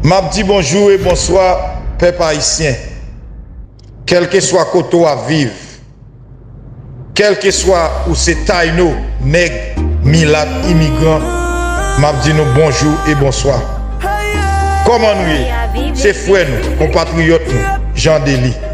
Map di bonjou e bonswa pèp ayisyen kèlkeswa kote w ap viv kèlkeswa ou se tayno nèg milat imigran map di nou bonjou e bonswa kòman nou ye se frè nou konpatriyòt nou Jean Delly.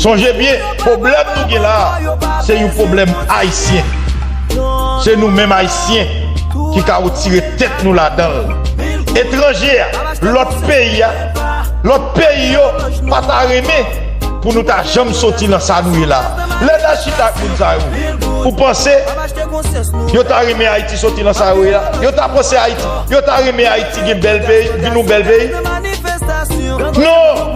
Sonje byen pwoblèm nou gen la se yon pwoblèm ayisyen. Se nou menm ayisyen ki ka retire tèt nou ladan l. Etranje a, lòt peyi a, lòt peyi yo pa ta renmen pou nou ta janm soti nan sa nou ye la. Lè n al chita ak moun sa yo, ou panse yo ta renmen Ayiti soti nan sa yo ye la? Yo ta panse Ayiti, yo ta renmen Ayiti gen bèl peyi, vin yon bèl peyi? Non!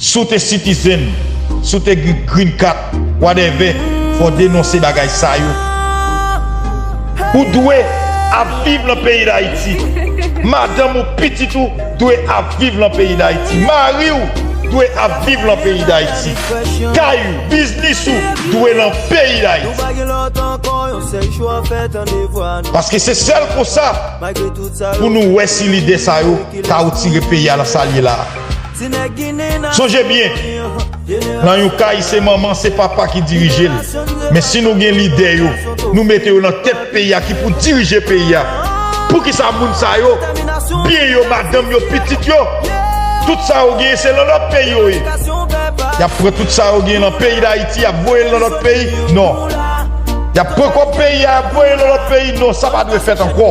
Si w te citizen, si w te gen green card, whatever, fò w denonse bagay sa yo. Ou dwe ap viv lan peyi Dayiti. Madanm ou, pitit ou dwe ap viv lan peyi Dayiti. Mari w dwe ap viv lan peyi Dayiti. Kay ou, biznis ou dwe lan peyi Dayiti. Paske se sèl konsa. pou nou wè si lide sa yo ka retire peyi a nan sa l ye la a. Sonje byen, nan yon kay se manman, se papa ki dirije l, men si nou gen lidè yo, nou mete yo nan tèt peyi a ki pou dirije peyi a, poukisa moun sa yo, byen yo, madanm yo, pitit yo, tout sa yo genyen se nan lòt peyi yo ye? Y ap pran tout sa yo genyen nan peyi Dayiti y ap voye l nan lòt peyi? Non. Y ap pran kòb peyi a y ap voye l nan lòt peyi? Non, sa pa dwe fèt ankò.